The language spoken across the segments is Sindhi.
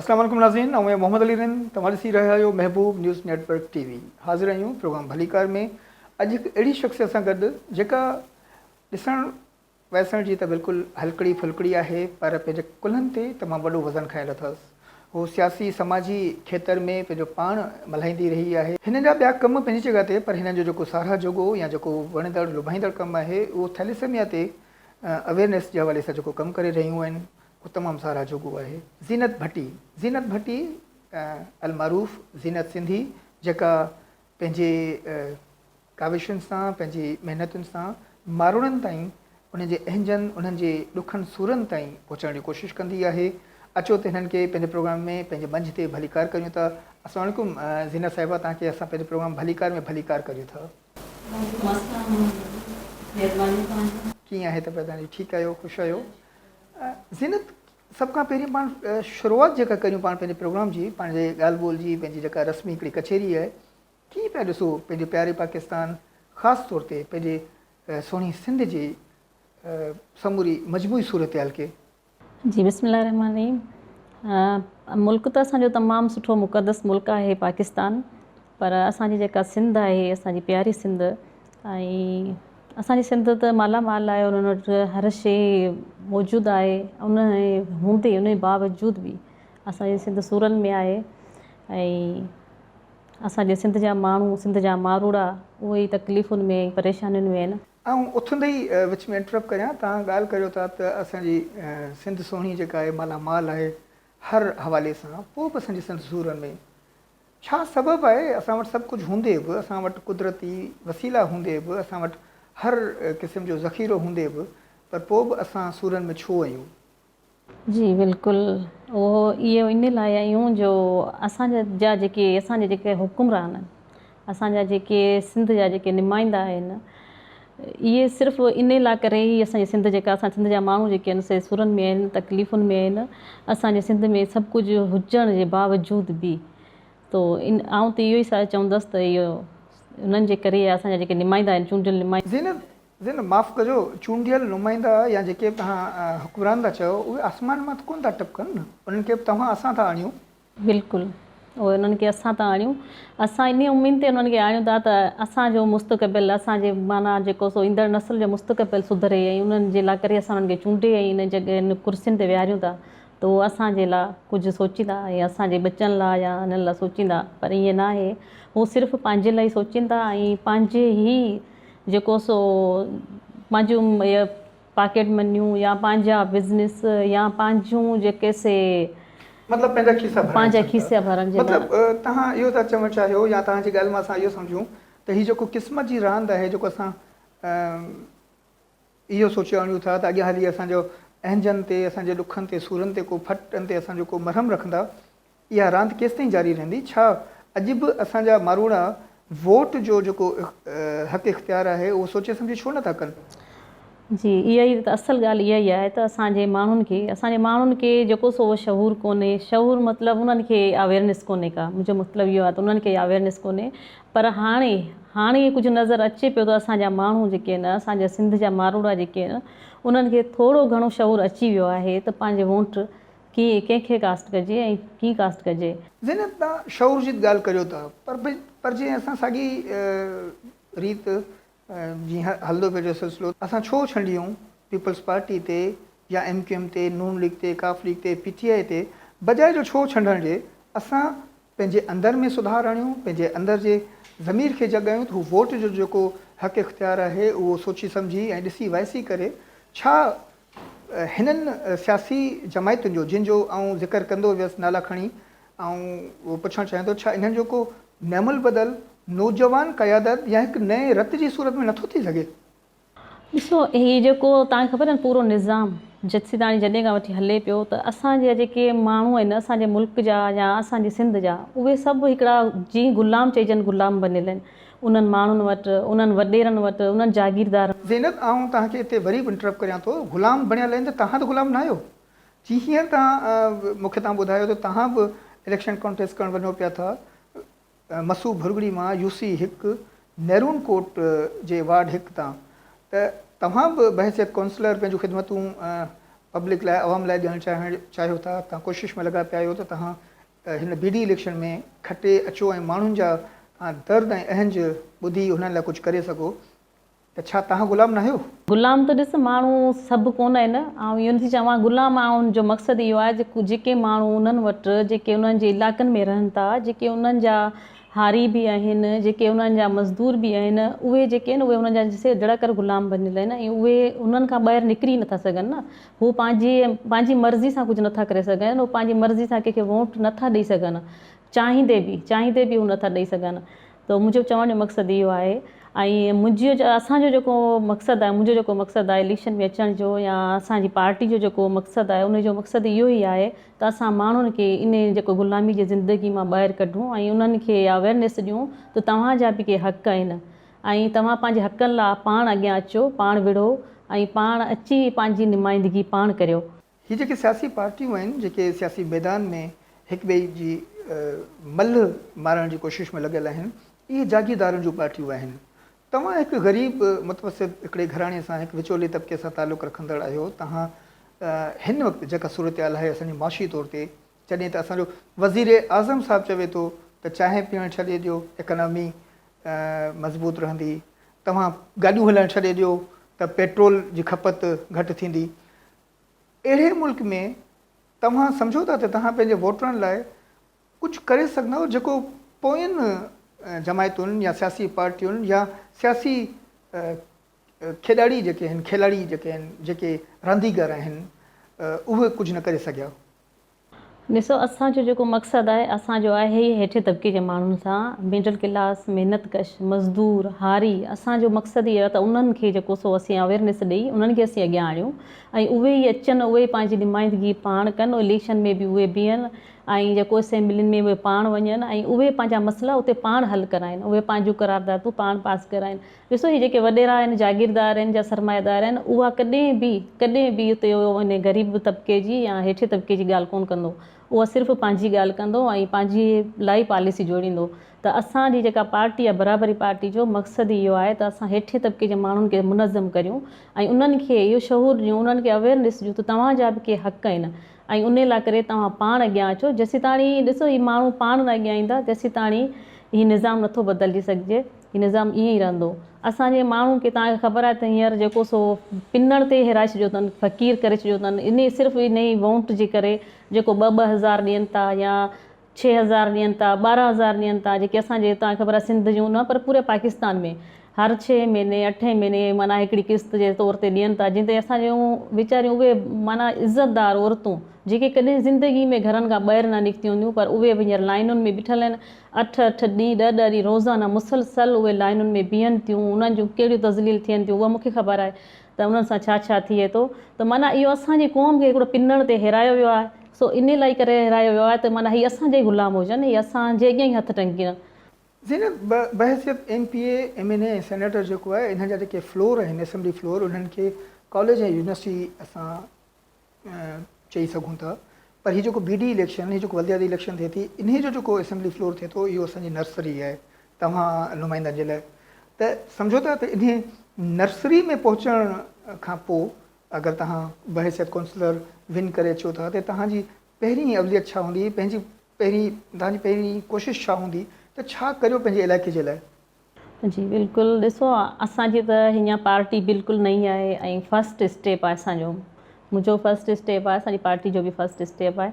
اسلام عليڪم ناظرين آئون آهيان محمد علي رند توهان ڏسي رهيا آهيو Mehboob news network T V حاضر آهيون پروگرام ڀليڪار ۾ اڄ هڪ اهڙي شخصيت سان گڏ جيڪا ڏسڻ ويسڻ جي ته بلڪل هلڪڙي ڦلڪڙي آهي پر پنهنجي ڪلهن تي تمام وڏو وزن کنيل اٿس هو سياسي سماجي کيتر ۾ پنهنجو پاڻ ملهائيندي رهي آهي هن جا ٻيا ڪم پنهنجي جڳهه تي پر هن جو جيڪو ساراهه جوڳو يا جيڪو وڻندڙ لڀائيندڙ ڪم آهي اهو ٿيليسيميا تي اويرنيس جي حوالي سان جيڪو ڪم ڪري رهيون آهن هو تمام ساراهه جوڳو آهي. زينت ڀٽي، زينت ڀٽي المعروف زينت سنڌي جيڪا پنهنجي ڪاوشن سان پنهنجي محنتن سان ماروئڙن تائين انهن جي اهنجن انهن جي ڏکن سورن تائين پهچڻ جي ڪوشش ڪندي آهي اچو ته هنن کي پنهنجي پروگرام ۾ پنهنجي منجهه تي ڀليڪار ڪريون ٿا السلام عليڪم زينت صاحبه توهان کي اسان پنهنجي پروگرام ڀليڪار ۾ ڀليڪار ڪريون ٿا. مست آ ماڻهو مهرباني توهانجي. ڪيئن آهي طبيعت هاڻي ٺيڪ آهيو خوش آهيو زينت سڀ کان پهرين پاڻ شروعات جيڪا ڪريون پاڻ پنهنجي پروگرام جي پنهنجي ڳالهه ٻولهه جي پنهنجي جيڪا رسمي هڪڙي ڪچهري آهي ڪيئن پيا ڏسو پنهنجي پياري پاڪستان خاص طور تي پنهنجي سهڻي سنڌ جي سموري مجموعي صورتحال کي. جي بسم الله الرحمٰن الرحيم ملڪ ته اسان جو تمام سٺو مقدس ملڪ آهي پاڪستان پر اسان جي جيڪا سنڌ آهي اسان جي پياري سنڌ ۽ اسان جي سنڌ ته مالا مال آهي انهن وٽ هر شي موجود آهي ان هوندي ان جي باوجود به اسان جي سنڌ سورن ۾ آهي ۽ اسان جي سنڌ جا ماڻهو سنڌ جا ماروئڙا اهي ئي تڪليفن ۾ پريشانين ۾ آهن آئون اٿندي ئي وچ ۾ انٽرپ ڪريان، توهان ڳالهه ڪريو ٿا ته اسان جي سنڌ سهڻي جيڪا آهي مالا مال آهي هر حوالي سان، پوء به اسان جي سنڌ سورن ۾ ڇا سبب آهي؟ اسان وٽ سڀ ڪجهه هوندي به، اسان وٽ قدرتي وسيلا هوندي به، اسان وٽ هر قسم جو ذخيرو هوندي به پر پوء به اسان سورن ۾ ڇو آهيون؟ جي بلڪل اهو اهو ان لاء آهيون جو اسان جا جيڪي اسان جا جيڪي حڪمران اسان جا جيڪي سنڌ جا جيڪي نمائندا آهن اهي صرف ان لاء ڪري هي اسان جي سنڌ جيڪا اسان سنڌ جا ماڻهو جيڪي آهن سي سورن ۾ آهن تڪليفن ۾ آهن اسان جي سنڌ ۾ سڀ ڪجهه هجڻ جي باوجود به تو ان آئون ته اهو ئي ساء چوندس ته اهو انهن جي ڪري اسان جا جيڪي نمائندا آهن چونڊيل نمائندا زينب ذرا معاف ڪجو، چونڊيل نمائندا يا جيڪي به توهان حڪمران ٿا چئو، اهي آسمان مان ته ڪونه ٿا ٽپڪن نه؟ انهن کي به توهان اسان ٿا آڻيون. بلڪل، اهي انهن کي اسان ٿا آڻيون. اسان انهيء اميد تي انهن کي آڻيون ٿا ته اسان جو مستقبل، اسان جي معنيٰ جيڪو سو ايندڙ نسل جو مستقبل سڌري ۽ انهن جي لاء ڪري اسان انهن کي چونڊي ۽ انهن جي انهن ڪرسين تي ويهاريون ٿا ته اهي اسان جي لاء ڪجهه سوچيندا ۽ اسان جي ٻچن لاء يا انهن لاء سوچيندا پر ائين ناهي. هو صرف پنهنجي لاء ئي سوچين ٿا ۽ پنهنجي ئي جيڪو سو پنهنجون اهي پاڪيٽ منيون يا پنهنجا بزنس يا پنهنجون جيڪي سي مطلب پنهنجا کيسا ڀرڻ پنهنجا کيسا ڀرڻ جي لاء مطلب توهان اهو ٿا چوڻ چاهيو يا توهان جي ڳالهه مان اسان اهو سمجهون ته هي جيڪو قسمت جي راند آهي جيڪو اسان اهو سوچي آڻيون ٿا ته اڳيان هلي اسان جو اهنجن تي اسان جي ڏکن تي سورن تي ڪو ڦٽن تي اسان جو ڪو مرهم رکندا اها راند ڪيستائين جاري رهندي؟ ڇا اڄ به اسان جا ماروئڙا ووٽ جو جيڪو حق اختيار آهي اهو سوچي سمجهي ڇو نه ٿا ڪن؟ جي اها ئي ته اصل ڳالهه اها ئي آهي ته اسان جي ماڻهن کي اسان جي ماڻهن کي جيڪو سو اهو شعور ڪونهي شعور مطلب انهن کي اويرنس ڪونهي ڪا منهنجو مطلب اهو آهي ته انهن کي اويرنس ڪونهي پر هاڻي هاڻي ڪجهه نظر اچي پيو ته اسان جا ماڻهو جيڪي آهن اسان جا سنڌ جا ماروئڙا جيڪي آهن انهن کي ٿورو گهڻو شعور اچي ويو آهي ته پنهنجي وونٽ ڪيئن ڪنهن کي ڪاسٽ ڪجي ۽ ڪيئن ڪاسٽ ڪجي. زينت تان شعور جي ڳالهه ڪريو ٿا پر جي اسان ساڳي ريت جي هلندو پيو جو سلسلو اسان ڇو ڇنڊيون پيپلز پارٽي تي يا ايم ڪيو ايم تي نون ليگ تي ڪاف ليگ تي پي ٽي آئي تي بجاء جو ڇو ڇنڊڻ جي اسان پنهنجي اندر ۾ سڌار اڻيون پنهنجي اندر جي ضمير کي جڳايون ته هو ووٽ جو جيڪو حق اختيار آهي اهو سوچي سمجهي ۽ ڏسي وائسي ڪري ڇا هنن سياسي جماعتن جو جن جو آئون ذڪر ڪندو ويس نالا کڻي آئون پڇڻ چاهيان ٿو ڇا انهن جو ڪو نعم البدل نوجوان قيادت يا هڪ نئين رت جي صورت ۾ نٿو ٿي سگهي؟ ڏسو هي جيڪو توهان کي خبر آهي پورو نظام جتسيتاڻي جڏهن کان وٺي هلي پيو ته اسان جا جيڪي ماڻهو آهن اسان جي ملڪ جا يا اسان جي سنڌ جا اهي سڀ هڪڙا جي غلام چئجن غلام بنيل آهن انهن ماڻهن وٽ، انهن وڏيرن وٽ، انهن جاگيردارن. زينت، آئون توهان کي اتي وري به انٽرپ ڪريان ٿو. غلام بڻيل آهن ته توهان ته غلام ناهيو. جي هينئر توهان مون کي توهان ٻڌايو ته توهان به اليڪشن ڪانٽيسٽ ڪرڻ وڃو پيا ٿا. مسو ڀرڳڙي مان يو سي هڪ ميرون ڪوٽ جي وارڊ هڪ تان ته توهان به بحيثيت ڪونسلر پنهنجون خدمتون پبلڪ لاء عوام لاء ڏيڻ چاهيو ٿا. توهان ڪوشش ۾ لڳا پيا آهيو ته توهان ته هن بي ڊي اليڪشن ۾ کٽي اچو ۽ ماڻهن جا درد ۽ اهنج ٻڌي انهن لاء ڪجهه ڪري سگهو ته ڇا توهان غلام ناهيو؟ غلام ته ڏس ماڻهو سڀ ڪونه آهن، آئون اهو نٿي چوان غلام آئون جو مقصد اهو آهي ته جيڪي ماڻهو انهن وٽ جيڪي انهن جي علائقن ۾ رهن ٿا جيڪي انهن جا هاري به آهن جيڪي انهن جا مزدور به آهن اهي جيڪي آهن اهي انهن جا سڌڙا ڪر غلام بنيل آهن ۽ اهي انهن کان ٻاهر نڪري نٿا سگهن نه هو پنهنجي پنهنجي مرضي سان ڪجهه نٿا ڪري سگهن، هو پنهنجي مرضي سان ڪنهن کي ووٽ نٿا ڏئي سگهن، چاهيندي به چاهيندي به هو نٿا ڏئي سگهن، ته منهنجو چوڻ جو مقصد اهو آهي ۽ منهنجي اسان جو جيڪو مقصد آهي منهنجو جيڪو مقصد آهي اليڪشن ۾ اچڻ جو يا اسان جي پارٽي جو جيڪو مقصد آهي ان جو مقصد اهو ئي آهي ته اسان ماڻهن کي ان جيڪو غلامي جي زندگي مان ٻاهر ڪڍون ۽ انهن کي اويرنيس ڏيون ته توهان جا به ڪي حق آهن ۽ توهان پنهنجي حقن لا پاڻ اڳيان اچو، پاڻ وڙهو ۽ پاڻ اچي پنهنجي نمائندگي پاڻ ڪريو. هي جيڪي سياسي پارٽيون آهن جيڪي سياسي ميدان ۾ هڪ ٻئي جي ملهه مارڻ جي ڪوشش ۾ لڳل آهن اهي جاگيردارن جون پارٽيون آهن توهان هڪ غريب متوسط هڪڙي گهراڻي سان هڪ وچولي طبقي سان تعلق رکندڙ آهيو توهان هن وقت جيڪا صورتحال آهي اسان جي معاشي طور تي جڏهن ته اسان جو وزير اعظم صاحب چوي ٿو ته چانهه پيئڻ ڇڏي ڏيو اڪانامي مضبوط رهندي، توهان گاڏيون هلائڻ ڇڏي ڏيو ته پيٽرول جي کپت گهٽ ٿيندي. اهڙي ملڪ ۾ توهان سمجهو ٿا ته توهان پنهنجي ووٽرن لاء ڪجهه ڪري سگهندؤ جيڪو پوئين جماعتن يا سياسي پارٽين يا سياسي کيڏاڙي جيڪي آهن کيلاڙي جيڪي آهن جيڪي رانديگر آهن اهي ڪجهه نه ڪري سگهيا. ڏسو اسان جو جيڪو مقصد آهي اسان جو آهي ئي هيٺين طبقي جي ماڻهن سان ميڊل ڪلاس محنت ڪش مزدور هاري اسان جو مقصد ئي اهو ته انهن کي جيڪو سو اسين اويرنيس ڏئي انهن کي اسين اڳيان آڻيون ۽ اهي ئي اچن اهي ئي پنهنجي نمائندگي پاڻ ڪن اليڪشن ۾ به اهي بيهن ۽ جيڪو اسيمبلين ۾ اهي پاڻ وڃن ۽ اهي پنهنجا مسئلا اتي پاڻ حل ڪرائين اهي پنهنجون قراردادون پاڻ پاس ڪرائين ڏسو هي جيڪي وڏيرا آهن، جاگيردار آهن جا سرمائيدار آهن، اها ڪڏهن به ڪڏهن به اتي انهي غريب طبقي جي يا هيٺين طبقي جي ڳالهه ڪونه ڪندو. اهو صرف پنهنجي ڳالهه ڪندو ۽ پنهنجي لاء ئي پاليسي جوڙيندو ته اسان جي جيڪا پارٽي آهي برابري پارٽي جو مقصد ئي اهو آهي ته اسان هيٺين طبقي جي ماڻهن کي منظم ڪريون ۽ انهن کي اهو شعور ڏيون انهن کي اويرنس ڏيون ته توهان جا به ڪي حق آهن ۽ انهي لاء ڪري توهان پاڻ اڳيان اچو جيسيتاڻي ڏسو هي ماڻهو پاڻ نه اڳيان ايندا تيسيتاڻي هي نظام نٿو بدلجي سگهجي. هي نظام ائين ئي رهندو. اسان جي ماڻهو کي توهان کي خبر آهي ته هينئر جيڪو سو پنڻ تي هيرائي ڇڏيو اٿن، فقير ڪري ڇڏيو اٿن، انهي صرف انهي وونٽ جي ڪري جيڪو ٻه ٻه هزار ڏين ٿا يا ڇهه هزار ڏين ٿا، ٻارهن هزار ڏين ٿا، جيڪي اسان جي توهان کي خبر آهي سنڌ جون نه پر پوري پاڪستان ۾ هر ڇهين مهيني اٺين مهيني معنيٰ هڪڙي قسط جي طور تي ڏين ٿا جنهن تي اسان جون ويچاريون اهي معنيٰ عزت دار عورتون جيڪي ڪڏهن زندگي ۾ گهرن کان ٻاهر نه نڪتيون هونديون پر اهي به هينئر لائينن ۾ بيٺل آهن اٺ اٺ ڏينهن، ڏهه ڏهه ڏينهن روزانه مسلسل اهي لائينن ۾ بيهن ٿيون، انهن جون ڪهڙيون تذليل ٿين ٿيون اها مون کي خبر آهي ته انهن سان ڇا ڇا ٿئي ٿو ته معنيٰ اهو اسان جي قوم کي هڪڙو پنڻ تي هيرايو ويو آهي سو انهي لائي ڪري هيرايو ويو آهي ته معنيٰ هي اسان جا ئي غلام هجن هي اسان جي اڳيان ئي هٿ ٽنگين. زينب بحيثيت M P A, M N A ۽ senator جيڪو آهي انهن جا جيڪي فلور آهن اسيمبلي فلور انهن کي ڪاليج ۽ يونيورسٽي اسان چئي سگهون ٿا پر هي جيڪو بي ڊي اليڪشن هي جيڪو ولدياتي اليڪشن ٿئي ٿي انهي جو جيڪو اسيمبلي فلور ٿئي ٿو اهو اسان جي نرسري آهي توهان نمائندن جي لاء ته سمجهو ٿا ته انهي نرسري ۾ پهچڻ کان پوء اگر توهان بحيثيت ڪونسلر ون ڪري اچو ٿا ته توهان جي پهرين اوليت ڇا هوندي پنهنجي پهرين توهان جي پهرين ڪوشش ڇا هوندي ته ڇا ڪريو پنهنجي علائقي جي لاء جي بلڪل ڏسو اسان جي ته هينئن پارٽي بلڪل نئين آهي ۽ فرسٽ اسٽيپ آهي اسان جو منهنجو فرسٽ اسٽيپ آهي اسان جي پارٽي جو به فرسٽ اسٽيپ آهي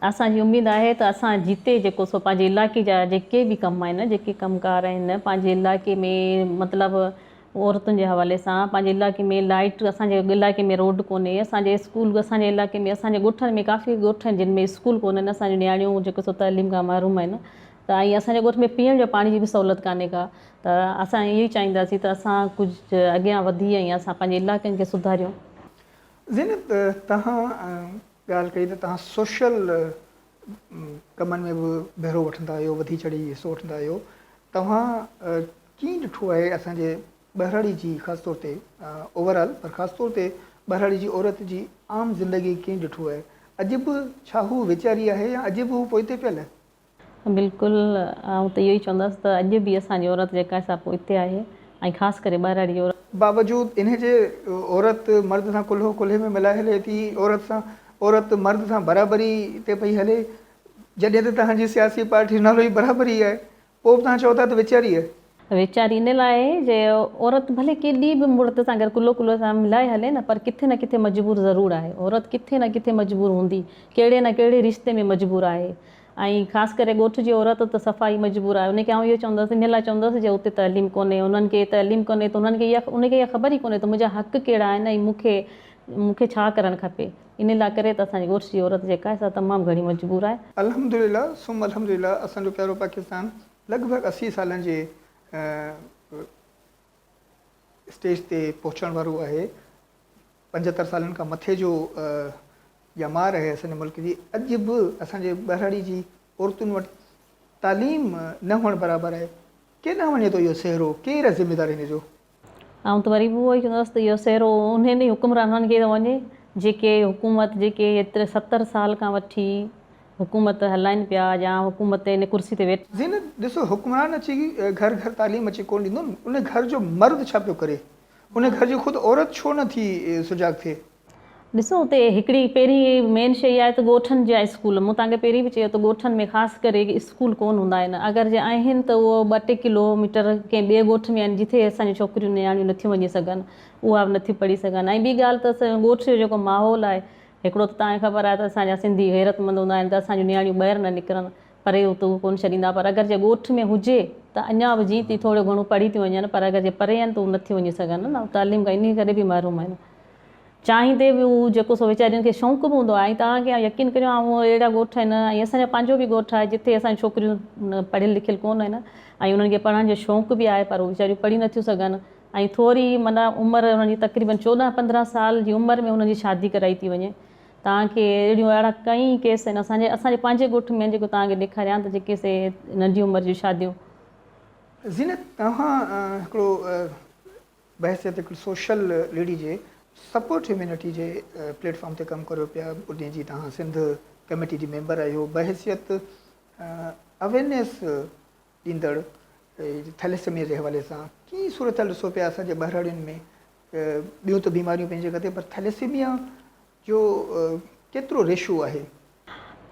اسان جي اميد آهي ته اسان جتي جيڪو سو پنهنجي علائقي جا جيڪي به ڪم آهن جيڪي ڪم ڪار آهن پنهنجي علائقي ۾ مطلب عورتن جي حوالي سان پنهنجي علائقي ۾ لائٽ اسان جي علائقي ۾ روڊ ڪونهي اسان جي اسڪول اسان جي علائقي ۾ اسان جي ڳوٺن ۾ ڪافي ڳوٺ آهن جن ۾ اسڪول ڪونهن اسان جون نياڻيون جيڪو سو تعليم کان محروم آهن ته ۽ اسان جي ڳوٺ ۾ پيئڻ جو پاڻي جي به سهولت ڪانهي ڪا ته اسان اهو ئي چاهينداسين ته اسان ڪجهه اڳيان وڌي ۽ اسان پنهنجي علائقن کي سڌاريون. زينت توهان ڳالهه ڪئي ته توهان سوشل ڪمن ۾ به ڀيرو وٺندا آهيو وڌي چڙهي حصو وٺندا آهيو توهان ڪيئن ڏٺو آهي اسان جي ٻهراڙي جي خاص طور تي اوور آل پر خاص طور تي ٻهراڙي جي عورت جي عام زندگي ڪيئن ڏٺو آهي اڄ به ڇا هو ويچاري آهي يا اڄ به هو پوئتي پيل بلڪل آئون ته اهو ئي چوندس ته اڄ به اسان جي عورت جيڪا سا پوئتي آهي ۽ خاص ڪري ٻهراڙي عورت. باوجود انهي جي عورت مرد سان ڪلهو ڪلهي ۾ ملائي هلي ٿي عورت سان عورت مرد سان برابري تي پئي هلي جڏهن ته توهان جي سياسي پارٽي جو نالو ئي برابري آهي پوء به توهان چئو ٿا ته وچاري ويچاري ان لاء جي عورت ڀلي ڪيڏي به مڙد سان گهر ڪلهو ڪلهو سان ملائي هلي نه پر ڪٿي نه ڪٿي مجبور ضرور آهي. عورت ڪٿي نه ڪٿي مجبور هوندي، ڪهڙي نه ڪهڙي رشتي ۾ مجبور آهي ۽ خاص ڪري ڳوٺ جي عورت ته صفا ئي مجبور آهي ان کي آئون اهو چوندس ان لاء چوندس جي اتي تعليم ڪونهي انهن کي تعليم ڪونهي ته انهن کي اها ان کي اها خبر ئي ڪونهي ته منهنجا حق ڪهڙا آهن ۽ مون کي مون کي ڇا ڪرڻ کپي ان لاء ڪري ته اسان جي ڳوٺ جي عورت جيڪا آهي سا تمام گهڻي مجبور آهي. الحمدلله ثم الحمدلله اسان جو پيارو پاڪستان لڳ ڀڳ اسي سالن جي اسٽيج تي پهچڻ وارو آهي. پنجهتر سالن کان مٿي جو ڄمار آهي اسان جي ملڪ جي. اڄ به اسان جي ٻهراڙي جي عورتن وٽ تعليم نه هئڻ برابر آهي. ڪيڏانهن وڃي ٿو اهو سهرو، ڪير آهي ذميوار ان جو؟ آئون ته وري به اهو ئي چوندس ته اهو سهرو انهن ئي حڪمرانن کي ٿو وڃي جيڪي حڪومت جيڪي هيتري ستر سال کان وٺي حڪومت هلائين پيا يا حڪومت تي ان ڪرسي تي ويٺا جي نه ڏسو حڪمران اچي گهر گهر تعليم اچي ڪونه ڏيندو نه ان گهر جو مرد ڇا پيو ڪري ان گهر جي خود عورت ڇو نه ٿي سجاڳ ٿئي. ڏسو اتي هڪڙي پهرين مين شيء آهي ته ڳوٺن جا اسڪول، مون توهان کي پهرين به چيو ته ڳوٺن ۾ خاص ڪري اسڪول ڪون هوندا آهن، اگر جي آهن ته اهو ٻه ٽي ڪلو ميٽر ڪنهن ٻئي ڳوٺ ۾ آهن جتي اسان جون ڇوڪريون نياڻيون نٿيون وڃي سگهن، اها به نٿيون پڙهي سگهن ۽ ٻي ڳالهه ته اسان جي ڳوٺ جو جيڪو ماحول آهي، هڪڙو ته توهان کي خبر آهي ته اسان جا سنڌي غيرتمند هوندا آهن ته اسان جون نياڻيون ٻاهر نه نڪرن، پري اتو ڪون ڇڏيندا پر اگر جي ڳوٺ ۾ هجي ته اڃا به جيئن تيئن ٿورو گهڻو پڙهي ٿيون وڃن پر اگر جي پري آهن ته هو نٿيون وڃي سگهن نه تعليم کان انهي ڪري به محروم آهن. چانهه تي به هو جيڪو سو ويچارين کي شونق به هوندو آهي ۽ توهان کي يقين ڪريو آئون اهڙا ڳوٺ آهن ۽ اسان جو پنهنجو به ڳوٺ آهي جتي اسان جون ڇوڪريون پڙهيل لکيل ڪونه آهن ۽ انهن کي پڙهڻ جو شونق به آهي پر هو ويچاريون پڙهي نه ٿيون سگهن ۽ ٿوري معنيٰ عمر انهن جي تقريبن چوڏهن پندرهن سال جي عمر ۾ انهن جي شادي ڪرائي ٿي وڃي توهان کي اهڙيون اهڙا ڪئي ڪيس آهن اسان جي اسان جي پنهنجي ڳوٺ ۾ جيڪو توهان کي ڏيکاريان ته جيڪي سي ننڍي عمر جون شاديون زينت توهان هڪڙو بحيثيت هڪڙي سوشل ليڊي جي سپورٽ هيومينٽي جي پليٽ فارم تي ڪم ڪريو پيا جنهن جي توهان سنڌ ڪميٽي جي ميمبر آهيو بحيثيت اويرنيس ڏيندڙ ٿيليسميا جي حوالي سان ڪي صورتحال ڏسو پيا اسان جي ٻهراڙين ۾ ٻيون ته بيماريون پنهنجي جڳهه تي پر ٿيليسميا جو ڪيترو ريشو آهي؟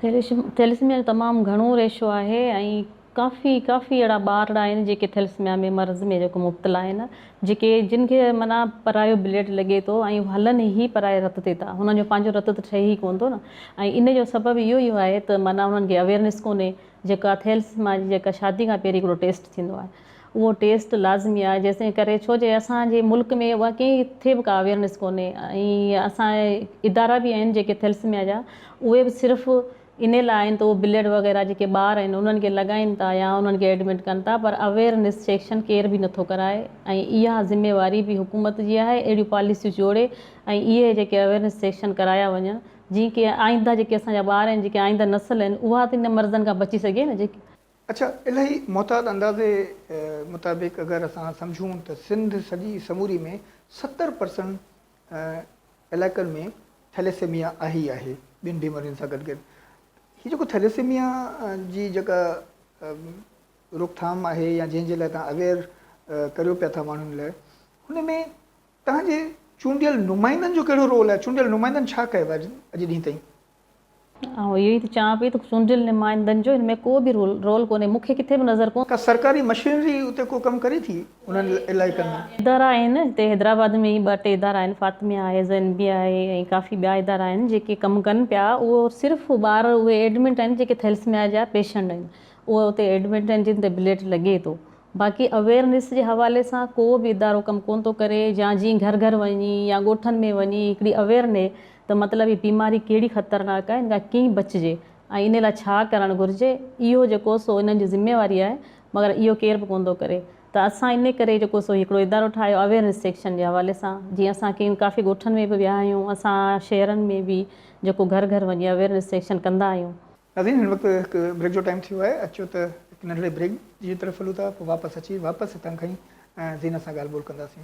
ٿيلسميا جو تمام گهڻو ريشو آهي ۽ ڪافي ڪافي اهڙا ٻارڙا آهن جيڪي ٿيلسميا ۾ مرض ۾ جيڪو مبتلا آهن جيڪي جن کي معنيٰ پرايو بليڊ لڳي ٿو ۽ هلن هي پرائي رت تي ٿا هنن جو پنهنجو رت ته ٺهي هي ڪون ٿو نه ۽ ان جو سبب اهو ئي آهي ته معنيٰ هنن کي اويرنس ڪونهي جيڪا ٿيلسما جي جيڪا شادي کان پهرين هڪڙو ٽيسٽ ٿيندو آهي اهو ٽيسٽ لازمي آهي جيسين ڪري ڇو جي اسان جي ملڪ ۾ اها ڪٿي به ڪا اويرنس ڪونهي ۽ اسان ادارا به آهن جيڪي ٿيلسميا جا اهي به صرف انهي لاء آهن ته اهو بليڊ وغيره جيڪي ٻار آهن انهن کي لڳائين ٿا يا انهن کي ايڊمٽ ڪن ٿا پر اويرنس سيڪشن ڪير به نٿو ڪرائي ۽ اها ذميواري به حڪومت جي آهي اهڙيون پاليسيون جوڙي ۽ اهي جيڪي اويرنس سيڪشن ڪرايا وڃن جيئن ڪي آئنده جيڪي اسان جا ٻار آهن جيڪي آئنده نسل آهن اها ته انهن مرضن کان بچي سگهي نه جيڪي اڇا الهي محتاط اندازي مطابق اگر اسان سمجهون ته سنڌ سڄي سموري ۾ ستر پرسنٽ علائقن ۾ ٿيليسيميا آهي ئي آهي ٻين بيمارين سان گڏ گڏ هي جيڪو ٿيليسيميا جي جيڪا روڪ ٿام آهي يا جنهن جي لاء توهان اويئر ڪريو پيا ٿا ماڻهن لاء هن ۾ توهان جي چونڊيل نمائندن جو ڪهڙو رول آهي چونڊيل نمائندن ڇا ڪيو آهي اڄ ڏينهن تائين آئون اهو ئي ٿي چوان پئي ته چونڊيل نمائندن جو هن ۾ ڪو به رول ڪونهي، مون کي ڪٿي به نظر ڪونه. ڪا سرڪاري مشينري اتي ڪو ڪم ڪري ٿي انهن علائقن ۾؟ ادارا آهن، هتي حيدرآباد ۾ ئي ٻه ٽي ادارا آهن، فاطميه آهي، زين بي آهي ۽ ڪافي ٻيا ادارا آهن جيڪي ڪم ڪن پيا، اهو صرف ٻار اهي ايڊمٽ آهن جيڪي ٿيلسميا جا پيشنٽ آهن، اهي اتي ايڊمٽ آهن جن تي بليڊ لڳي ٿو، باقي اويئرنيس جي حوالي سان ڪو به ادارو ڪم ڪونه ٿو ڪري يا جيئن گهر گهر وڃي يا ڳوٺن ۾ وڃي هڪڙي اويئرنيس ته مطلب هي بيماري ڪهڙي خطرناڪ آهي، ان کان ڪيئن بچجي ۽ ان لاء ڇا ڪرڻ گهرجي، اهو جيڪو سو انهن جي ذميواري آهي، مگر اهو ڪير به ڪونه ٿو ڪري ته اسان ان ڪري جيڪو سو هڪڙو ادارو ٺاهيو اويرنيس سيڪشن جي حوالي سان، جيئن اسان ڪيئن ڪافي ڳوٺن ۾ به ويا آهيون، اسان شهرن ۾ به جيڪو گهر گهر وڃي اويرنيس سيڪشن ڪندا آهيون. ناظرين هن وقت هڪ بريڪ جو ٽائيم ٿي ويو آهي، اچو ته هڪ ننڍڙي بريڪ جي طرف هلون ٿا، پوء واپس اچي واپس هتان کان ئي زينت سان ڳالهه ٻولهه ڪنداسين.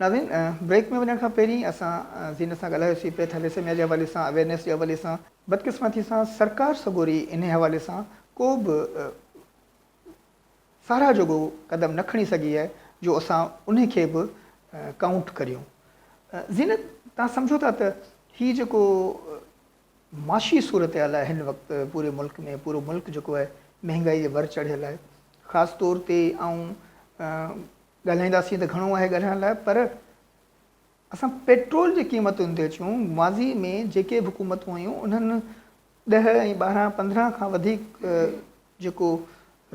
ناظرين بريڪ ۾ وڃڻ کان پهرين اسان زينت سان ڳالهايو سي پي ٿيليسيميا جي حوالي سان اويرنيس جي حوالي سان بدقسمتي سان سرڪار سڳوري انهي حوالي سان ڪو به ساراهه جوڳو قدم نه کڻي سگهي آهي جو اسان انهي کي به ڪائونٽ ڪريون زينت توهان سمجهو ٿا ته هي جيڪو معاشي صورتحال آهي هن وقت پوري ملڪ ۾ پورو ملڪ جيڪو آهي مهنگائي جي ور چڙهيل آهي خاص طور تي آئون ڳالهائينداسين ته گهڻو آهي ڳالهائڻ لاء پر اسان پيٽرول جي قيمتن تي اچون ماضي ۾ جيڪي به حڪومتون هيون انهن ڏهه ۽ ٻارهن پندرهن کان وڌيڪ جيڪو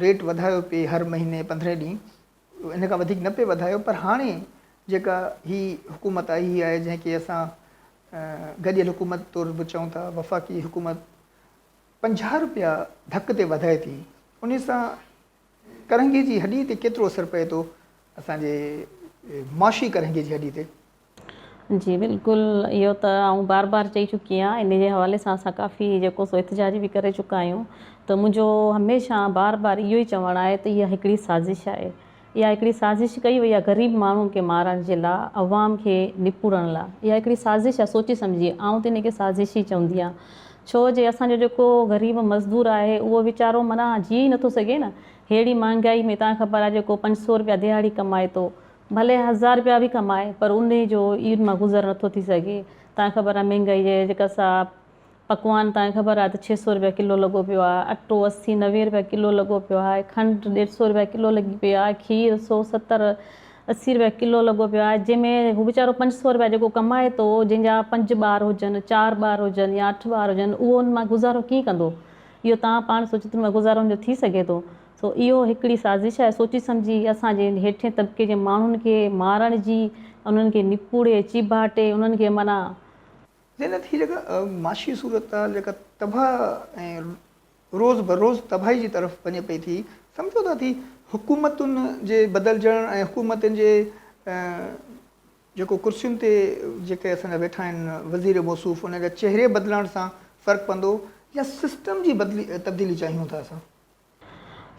ريٽ وڌايو پئي هر مهيني پندرهن ڏينهن ان کان وڌيڪ نه پئي وڌايو پر هاڻي جيڪا هي حڪومت آئي هي آهي جنهن کي اسان گڏيل حڪومت طور به چئون ٿا وفاقي حڪومت پنجاهه رپيا ڌڪ تي وڌائي ٿي ان سان ڪرنگهي جي هڏي تي ڪيترو اثر پئي ٿو اسان جي معاشي ڪرنگهي جي هڏي تي جي بلڪل اهو ته آئون بار بار چئي چڪي آهيان ان جي حوالي سان اسان ڪافي جيڪو سو احتجاج به ڪري چڪا آهيون ته منهنجو هميشه بار بار اهو ئي چوڻ آهي ته اها هڪڙي سازش آهي اها هڪڙي سازش ڪئي وئي آهي غريب ماڻهن کي مارڻ جي لا عوام کي نپورڻ لا اها هڪڙي سازش آهي سوچي سمجهي آئون ته ان کي سازش ئي چوندي آهيان ڇو جي اسان جو جيڪو غريب مزدور آهي اهو ويچارو معنيٰ جيئي نٿو سگهي نه ههڙي مهانگائي ۾ تان کي خبر آهي جيڪو پنج سو روپيا دهاڙي ڪمائي ٿو ڀلي هزار رپيا به ڪمائي پر انهي جو عيد مان گذر نه ٿو ٿي سگهي. تانکي خبر آهي مهنگائي جي جيڪا سا پڪوان تانکي خبر آهي ته ڇهه سؤ رپيا ڪلو لڳو پيو آهي، اٽو اسي نوي رپيا ڪلو لڳو پيو آهي، کنڊ ڏيڍ سؤ رپيا ڪلو لڳي پئي آهي، کير سؤ ستر اسي رپيا ڪلو لڳو پيو آهي جنهن ۾ هو ويچارو پنج سؤ رپيا جيڪو ڪمائي ٿو جنهن جا پنج ٻار هجن، چار ٻار هجن يا اٺ ٻار هجن اهو ان مان گذارو ڪيئن ڪندو؟ اهو توهان پاڻ سوچيو ته ان مان گذارو ان جو ٿي سگهي ٿو؟ سو اهو هڪڙي سازش آهي سوچي سمجهي اسان جي ان هيٺين طبقي جي ماڻهن کي مارڻ جي انهن کي نپوڙي چيڀاٽي انهن کي معنيٰ. زينت هي جيڪا معاشي صورتحال جيڪا تباهه ۽ روز بروز تباهي جي طرف وڃي پئي ٿي سمجهو ٿا ٿي حڪومتن جي بدلجڻ ۽ حڪومتن جي جيڪو ڪرسين تي جيڪي اسان جا ويٺا آهن وزير موصوف انهن جا چهري بدلڻ سان فرق پوندو يا سسٽم جي تبديلي چاهيون ٿا اسان.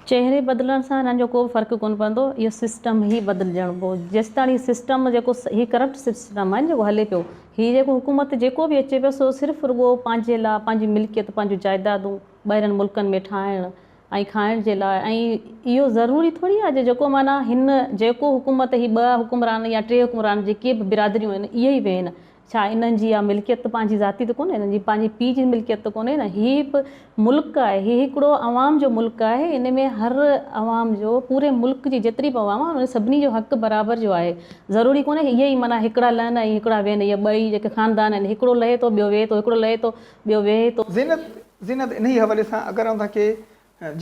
چهري بدلڻ سان هنن جو ڪو به فرق ڪونه پوندو اهو سسٽم هي بدلجڻ پو جيستاڻي هي سسٽم جيڪو هي ڪرپٽ سسٽم آهي جيڪو هلي پيو هي جيڪو حڪومت جيڪو به اچي پيو سو صرف رڳو پنهنجي لاء پنهنجي ملڪيت پنهنجون جائدادون ٻاهرين ملڪن ۾ ٺاهڻ ۽ کائڻ جي لاء ۽ اهو ضروري ٿوري آهي جيڪو معنيٰ هن جيڪو حڪومت هي ٻه حڪمران يا ٽي حڪمران جيڪي به برادريون آهن اهي ئي ويهن ڇا انهن جي اها ملڪيت ته پنهنجي ذاتي ته ڪونهي، انهن جي پنهنجي پيء جي ملڪيت ته ڪونهي نه، هي به ملڪ آهي، هي هڪڙو عوام جو ملڪ آهي، ان ۾ هر عوام جو، پوري ملڪ جي جيتري به عوام آهي، انهن سڀني جو حق برابر جو آهي، ضروري ڪونهي ته اهي ئي معنيٰ هڪڙا لهن ۽ هڪڙا ويهن، اهي ٻه ئي جيڪي خاندان آهن، هڪڙو لهي ٿو ٻيو ويهي ٿو، هڪڙو لهي ٿو ٻيو ويهي ٿو. زينت، زينت انهيء حوالي سان اگر آئون توهان کي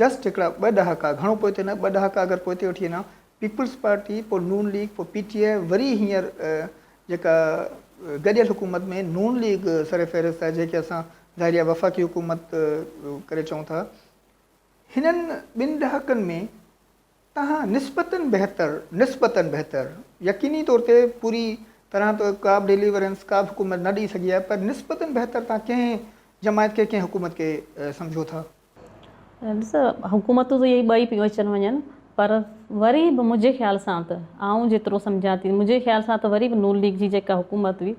جسٽ هڪڙا ٻه ڏهاڪا، گهڻو پوئتي نه، ٻه ڏهاڪا اگر پوئتي وٺي وڃان، پيپلز پارٽي پوء نون ليگ پوء پي ٽي آء وري هينئر جيڪا گڏيل حڪومت ۾ نون ليگ سر فهرست آهي جنهنکي اسان ظاهريا وفاقي حڪومت ڪري چئون ٿا هنن ٻن ڏهاڪن ۾ تهان نسبتن بهتر نسبتن بهتر يقيني طور تي پوري طرح ته ڪابه ڊيليورنس ڪابه حڪومت نه ڏئي سگهي آهي پر نسبتن بهتر تهان ڪنهن جماعت کي ڪنهن حڪومت کي سمجهو ٿا. ڏس حڪومتون ته اهي ٻئي پيون اچن وڃن پر وري به منهنجي خيال سان ته آئون جيترو سمجهان ٿي منهنجي خيال سان ته وري به نون ليگ جي جيڪا حڪومت هئي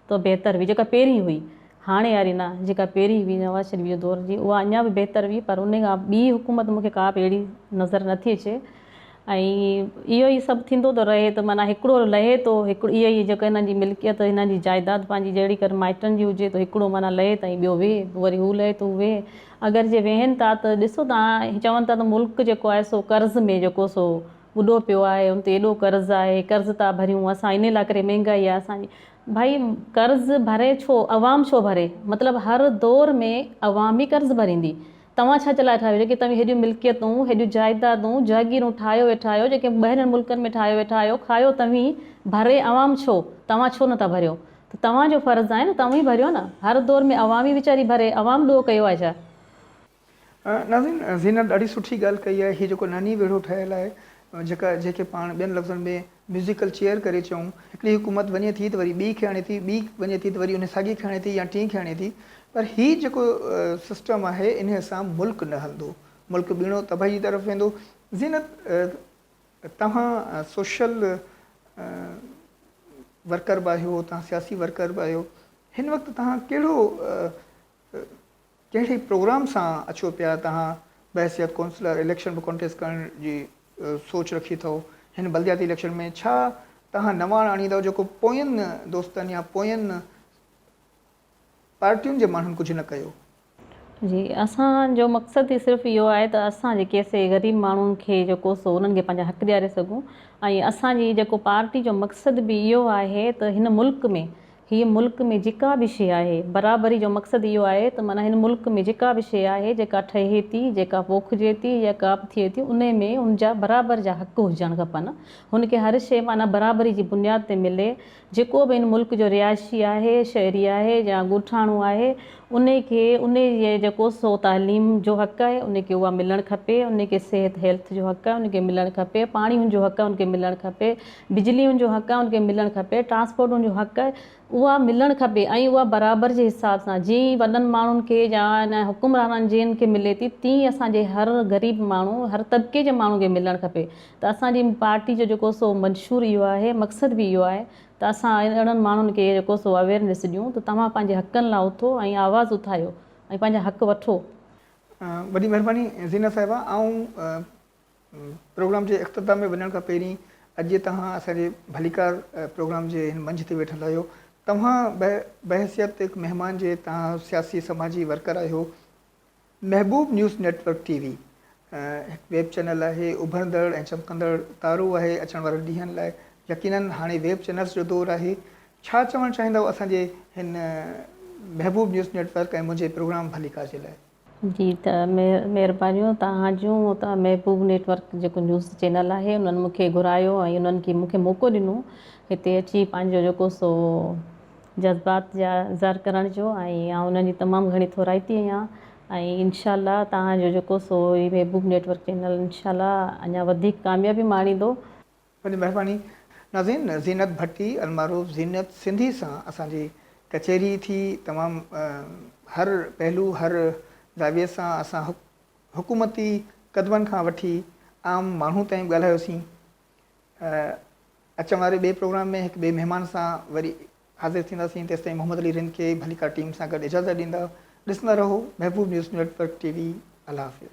تو بهتر هئي جيڪا پهرين هئي هاڻي واري نه جيڪا پهرين هئي نواز شريف جي دور جي اها اڃا به بهتر هئي پر انهي کان ٻي حڪومت مون کي ڪا به اهڙي نظر نٿي اچي ۽ اهو ئي سڀ ٿيندو ٿو رهي ته معنيٰ هڪڙو لهي ٿو هڪڙو اهو ئي جيڪو هنن جي ملڪيت هنن جي جائداد پنهنجي جهڙي ڪر مائٽن جي هجي ته هڪڙو معنيٰ لهي ته ۽ ٻيو ويهي پوء وري هو لهي ته هو ويهي اگر جي ويهن ٿا ته ڏسو تان چون ٿا ته ملڪ جيڪو آهي سو قرض ۾ جيڪو سو ٻڏو پيو آهي ان تي ايڏو قرض آهي قرض ٿا ڀريون اسان انهي لاء ڪري مهنگائي آهي اسان جي ڀائي قرض ڀري ڇو عوام ڇو ڀري مطلب هر دور ۾ عوام ئي قرض ڀريندي توهان ڇا جي لاء ٺاهيو جيڪي توهين هيڏيون ملڪيتون، هيڏيون جائيدادون، جهگيرون ٺاهيو ويٺا آهيو، جيڪي ٻاهرين ملڪن ۾ ٺاهيو ويٺا آهيو، کايو توهين، ڀري عوام ڇو؟ توهان ڇو نه ٿا ڀريو؟ ته توهان جو فرض آهي نه توهين ڀريو نه، هر دور ۾ عوام ئي ويچاري ڀري، عوام ڏوهه ڪيو آهي ڇا؟ ناظرين زينت ڏاڍي سٺي ڳالهه ڪئي آهي، هي جيڪو ننهي ويڙهو ٺهيل آهي جيڪا جيڪي پاڻ ٻين لفظن ۾ ميوزيڪل چيئر ڪري چئون. هڪڙي حڪومت وڃي ٿي ته وري ٻي کي آڻي ٿي، ٻي وڃي ٿي ته وري انهي ساڳي کي آڻي ٿي يا ٽين کي آڻي ٿي پر هي جيڪو سسٽم آهي انهي سان ملڪ نه هلندو. ملڪ ٻيڻو تباهي جي طرف ويندو. زينت توهان سوشل ورڪر به آهيو، توهان سياسي ورڪر به آهيو، هن وقت توهان ڪهڙو ڪهڙي پروگرام سان اچو پيا توهان بحيثيت ڪونسلر اليڪشن به ڪنٽيسٽ ڪرڻ جي سوچ رکي ٿئو هن بلدياتي اليڪشن ۾ ڇا توهان نواڻ آڻيندؤ جيڪو پوين دوستن يا پوين پارٽين جي ماڻهن ڪجهه نه ڪيو. جي اسان جو مقصد ئي صرف اهو آهي ته اسان جي ڪيسي غريب ماڻهن کي جيڪو سو انهن کي پنهنجا حق ڏياري سگهون ۽ اسان جي جيڪو پارٽي جو مقصد به اهو آهي ته هن ملڪ ۾ هي ملڪ ۾ جيڪا به شيء آهي، برابري جو مقصد اهو آهي ته معنيٰ هن ملڪ ۾ جيڪا به شيء آهي، جيڪا ٺهي ٿي، جيڪا پوکجي ٿي يا ڪا به ٿئي ٿي، انهي ۾ ان جا برابر جا حق هجڻ کپن. هن کي هر شيء معنيٰ برابري جي بنياد تي ملي. جيڪو به هن ملڪ جو رهائشي آهي، شهري آهي يا ڳوٺاڻو آهي، انهي کي انهي جي جيڪو سو تعليم جو حق آهي، انهي کي اها ملڻ کپي. انهي کي صحت، Health، جو حق آهي، انهي کي ملڻ کپي. پاڻي هن جو حق آهي، انهي کي ملڻ کپي. بجلي ان جو حق آهي ان کي ملڻ کپي ٽرانسپورٽ ان جو حق آهي اها ملڻ کپي ۽ اها برابر جي حساب سان جي وڏن ماڻهن کي يا ان حڪمرانن جي ان کي ملي ٿي تي اسان جي هر غريب ماڻهو هر طبقي جي ماڻهو کي ملڻ کپي ته اسان جي پارٽي جو جيڪو سو منشور اهو آهي مقصد به اهو آهي ته اسان اهڙن ماڻهن کي جيڪو سو اويرنس ڏيون ته توهان پنهنجي حقن لاء اٿو ۽ آواز اٿايو ۽ پنهنجا حق وٺو. وڏي مهرباني زينت صاحبه آئون پروگرام جي اختتام ۾ وڃڻ کان پهرين اڄ توهان اسان جي ڀليڪار پروگرام جي هن منچ تي ويٺل آهيو. توهان بحيثيت هڪ مهمان جي توهان سياسي سماجي ورڪر آهيو. Mehboob news network T V هڪ ويب چينل آهي، اڀرندڙ ۽ چمڪندڙ تارو آهي اچڻ وارن ڏينهن لاء. يقيناً هاڻي ويب چينلز جو دور آهي. ڇا چوڻ چاهيندؤ اسان جي هن محبوب نيوز نيٽ ورڪ ۽ منهنجي پروگرام ڀليڪار جي لاء؟ جي ته مهربانيون توهان جون ته محبوب نيٽ ورڪ جيڪو نيوز چينل آهي انهن مون کي گهرايو ۽ انهن کي مون کي موقعو ڏنو هتي اچي پنهنجو جيڪو سو جذبات جا اظهار ڪرڻ جو ۽ آئون انهن جي تمام گهڻي ٿورائتي آهيان ۽ انشاء الله توهان جو جيڪو سو هي محبوب نيٽ ورڪ چينل انشاء الله اڃا وڌيڪ ڪاميابي ماڻيندو. وڏي مهرباني ناظرين زينت ڀٽي المعروف زينت سنڌي سان اسان جي ڪچهري ٿي تمام هر پهلو هر زاويي سان اسان حڪومتي قدمن کان وٺي عام ماڻهو تائين ڳالهايوسين اچڻ واري ٻئي پروگرام ۾ هڪ ٻئي مهمان سان وري حاضر ٿينداسين تيستائين محمد علي رند کي ڀليڪار ٽيم سان گڏ اجازت ڏيندا ڏسندا رهو Mehboob news network T V الله حافظ